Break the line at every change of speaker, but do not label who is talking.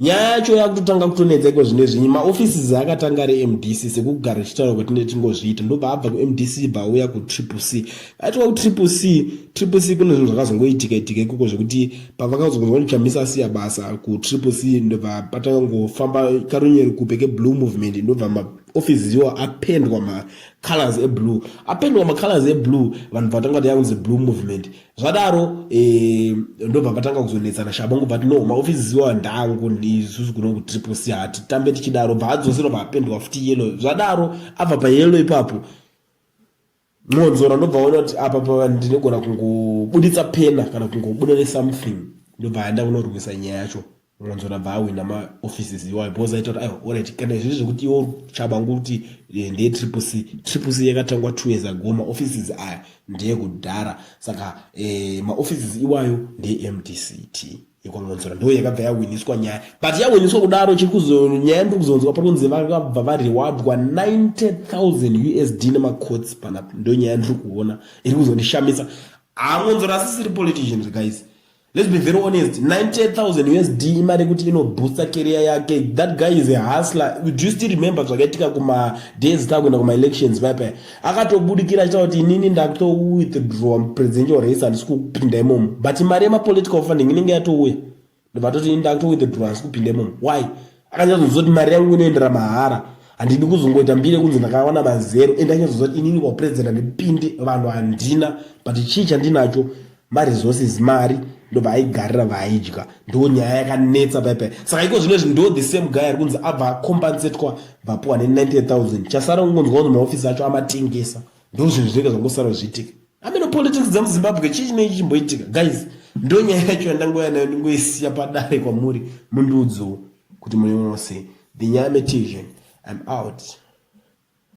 nyaya yacho yakutotanga kutonetsa iko zvine zvinyi maoffices akatanga ari mdc sekugara ichitaura kwatine tingozviita ndobva abva kumdc bva auya kutriple c aitwa kutriple c triple c kune zvinhu zvakazongoitika itika ikoko zvekuti pavakazongoichamisa asiya basa kutriple c ndobva patanga ngofamba karunyeri kupe keblue movement ndobva maoffices iwo apendwa macolors eblue apendwa macolors eblue vanhu vatanga kuti yakunzi blue movement zvadaro eh, ndobva vatanga kuzonetsana shabo ngobva ati no maofisi ziwa ndangu ndisusu kuno kutriple c hatitambe tichidaro bva adzosera bva apendwa futi yelo zvadaro abva payelo ipapo mwonzora ndobva ona kuti apa pa ndinogona kungobuditsa pena kana kungobuda nesomething ndobva aenda kunorwisa nyaya yacho mwanzora bva awina ma offices iwayo because aita kuti aiwa orit kana izvizvi zvekuti iwo chabangu kuti eh, ndeye triple c triple c yakatangwa two years ago ma offices aya ndeye kudhara saka eh, ma offices iwayo ndeye mdct yekwamwanzora ndo yakabva yawiniswa nyaya but yawiniswa kudaro chiri kuzonyaya ndiri kuzonzwa pari kunzi vakabva varewadwa 90000 usd nemacots panapo ndo nyaya ndiri kuona iri kuzondishamisa hamwanzora asisiri politicians guys Let's be very honest, 98,000 USD imari yekuti inobooster career yake. That guy is a hustler. Do you still remember zvakaitika kuma days takuenda kuma elections paya paya? Akatobudikira achita kuti inini ndakuto withdraw presidential race handisi kupinda imomo. But mari yema political funding inenge yatouya. Ndovatoti inini ndakuto withdraw handisi kupinda imomo. Why? akanyatsoziva kuti mari yangu inoendera mahara handidi kuzongoita mbiri yekunzi ndakawana mazero ende anyazoziva kuti inini kwaupurezident handipindi vanhu handina but chii chandinacho maresources mari ndobva aigarira vaaidya ndo nyaya yakanetsa paipai saka iko zvino izvi ndo the same guy ari kunzi abva acompensetwa bvapuwa ne 90000 chasara kungonzwa kunzi maofisi acho amatengesa ndo zvinhu zvinoita zvangosara zviitika ameno politics dzemuzimbabwe chii chinenge chimboitika guys ndonyaya yacho yandangouya nayo ndingoisiya padare kwamuri mundiudzowo kuti muneono sei the nyaya metizve im out